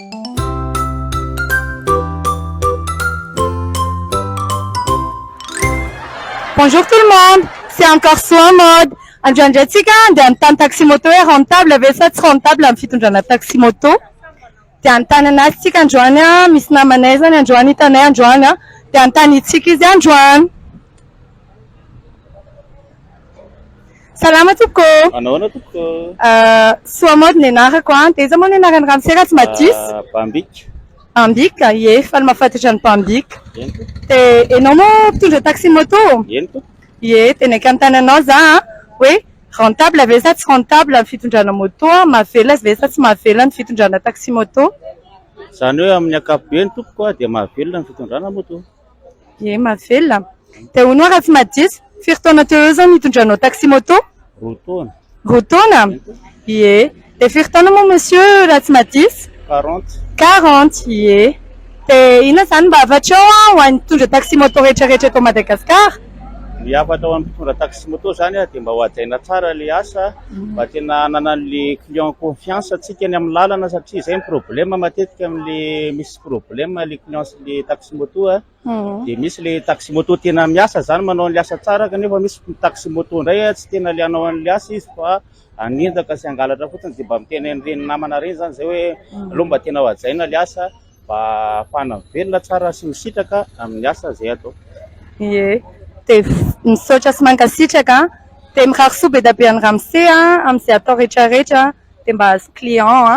Bonjour tout le monde, c'est encore soin mode, androany indray tsika andeha hanontany taxi moto hoe rentable ve sa tsy rentable amin'ny fitondrana taxi moto, dia hanontany an'azy tsika androany an, misy namanay zany androany hitanay androany an, dia hanontaniantsika izy androany. Salama tompoko ô! Manao ahoana tompoko ô? Soa mody ny anarako an! Dia iza moa ny anaran'ny ramosera tsy mba diso? Bambika. Bambika? Ie, faly mahafantatra an'i Bambika. Eny tompoko. Dia ianao moa mpitondra taxi moto? Eny tompoko. Ie, dia naika hanontany anao za an! hoe rentable ve sa tsy rentable ny fitondrana moto? mahavelona ve sa tsy mahavelona ny fitondrana taxi moto? Izany hoe amin'ny ankapobeny tompoko dia mahavelona ny fitondrana moto. Ye mahavelona an! Dia hono aho raha tsy mahadiso, firy taona teo eo izao no nitondranao taxi moto? Roa taona. Roa taona? Ye. Dia firy taona moa monsieur raha tsy mahadiso? Quarante. Quarante, ye. Dia inona izany mba hafatrao an ho an'ny mpitondra taxi moto rehetrarehetra eto Madagasikara? Ny hafatra ho an'ny mpitondra taxi moto izany an dia mba hohajaina tsara ilay asa, mba tena hanana an'ilay client confiance antsika any amin'ny lalana satria izay no problème matetika amin'ilay misy problème le client sy le taxi moto a de misy le taxi moto tena miasa zany manao an'le asa tsara kanefa misy taxi moto ndray a tsy tena le hanao an'le asa izy fa hanendaka sy hangalatra fotsiny de mba miteny an'ireny namana reny zany zay hoe aleo mba tena hajaina le asa mba hahafahana mivelona tsara sy misitraka amin'ny asa zay atao ye de misaotra sy mankasitraka de mirary soa be dia be an'i ramose a amin'izay atao rehetra rehetra de mba azy client a